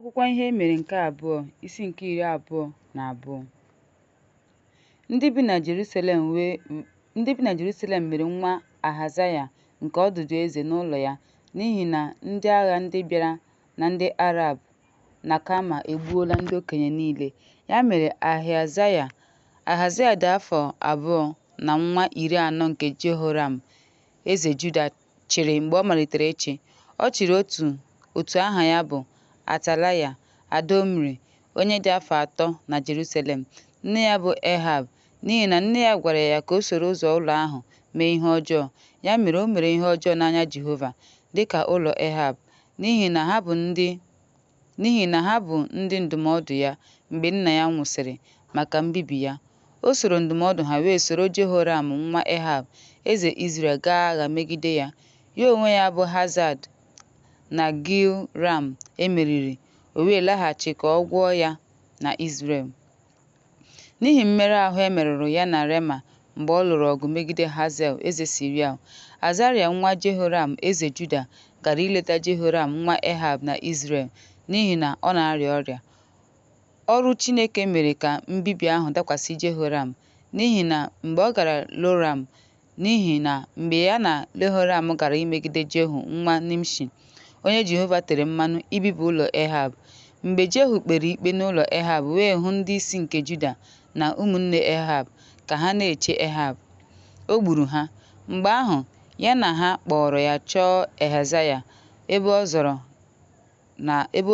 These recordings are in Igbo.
Akwụkwọ Ihe E Mere nke Abụọ, isi nke iri abụọ na abụọ. Ndị bi na Jerusalem mere nwa Ahazaya nke ọdụdụ eze n'ụlọ ya n'ihi na ndị agha ndị bịara na ndị Arab na Kama egbuola ndị okenye niile. Ya mere Ahazaya dị afọ abụọ na nwa iri anọ nke Jehoram eze Juda chịrị mgbe ọ malitere ịchị. Ọ chịrị otu aha ya bụ Atalaya, ada Omri, onye dị afọ atọ na Jerusalem. Nne ya bụ Ehab, n'ihi na nne ya gwara ya ka o soro ụzọ ụlọ ahụ mee ihe ọjọọ. Ya mere, o mere ihe ọjọọ n'anya Jehova, dị ka ụlọ Ehab, n'ihi na ha bụ ndị n'ihi na ha bụ ndị ndụmọdụ ya mgbe nna ya nwụsịrị maka mbibi ya. O soro ndụmọdụ ha wee soro Jehoram nwa Ehab, eze Izrel gaa agha megide ya. Ya onwe ya bụ Hazad na Gil Ram e meriri, o wee laghachi ka ọ gwọọ ya na Izrel. N'ihi mmerụ ahụ e merụrụ ya na Rema mgbe ọ lụrụ ọgụ megide Hazel, eze Siria, Azaraya nwa Jehoram, eze Juda, gara ileta Jehoram nwa Ehab na Izrel n'ihi na ọ na-arịa ọrịa. Ọrụ Chineke mere ka mbibi ahụ dakwasị Jehoram n'ihi na mgbe ọ gara Loram, N'ihi na mgbe ya na Lehoram gara imegide Jehu nwa Nimshi, onye Jehova tere mmanụ ibibi ụlọ Ehab, mgbe Jehu kpere ikpe n'ụlọ Ehab wee hụ ndị isi nke Juda na ụmụnne Ehab ka ha na-eche Ehab, o gburu ha. Mgbe ahụ, ya na ha kpọọrọ ya chọọ Ehazaya ebe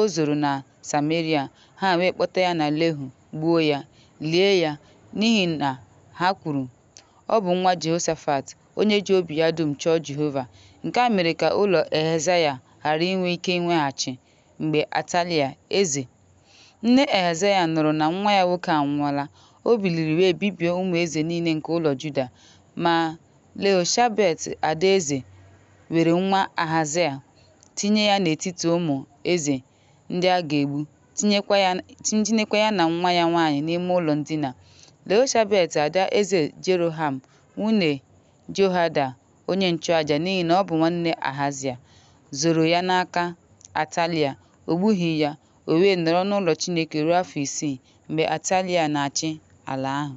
o zoro na Sameria, ha wee kpọta ya na Lehu, gbuo ya, lie ya, n'ihi na ha kwuru Ọ bụ nwa Jehoshafat, onye ji obi ya dum chọọ Jehova. Nke a mere ka ụlọ Ehazaya ghara inwe ike inweghachi mgbe Atalia, eze. Nne Ehazaya nụrụ na nwa ya nwoke anwụọla, o biliri wee bibie ụmụ eze niile nke ụlọ Juda. Ma, Lehoshabet ada eze were nwa Ahazaya tinye ya n'etiti ụmụ eze ndị a ga-egbu, tinyekwa ya na nwa ya nwaanyị n'ime ụlọ ndina. Leoshabet ada eze Jeroham, nwunye Jehoiada onye nchụaja n'ihi na ọ bụ nwanne Ahazia, zoro ya n'aka Atalia, o gbughị ya, o wee nọrọ n'ụlọ Chineke ruo afọ isii mgbe Atalia na-achị ala ahụ.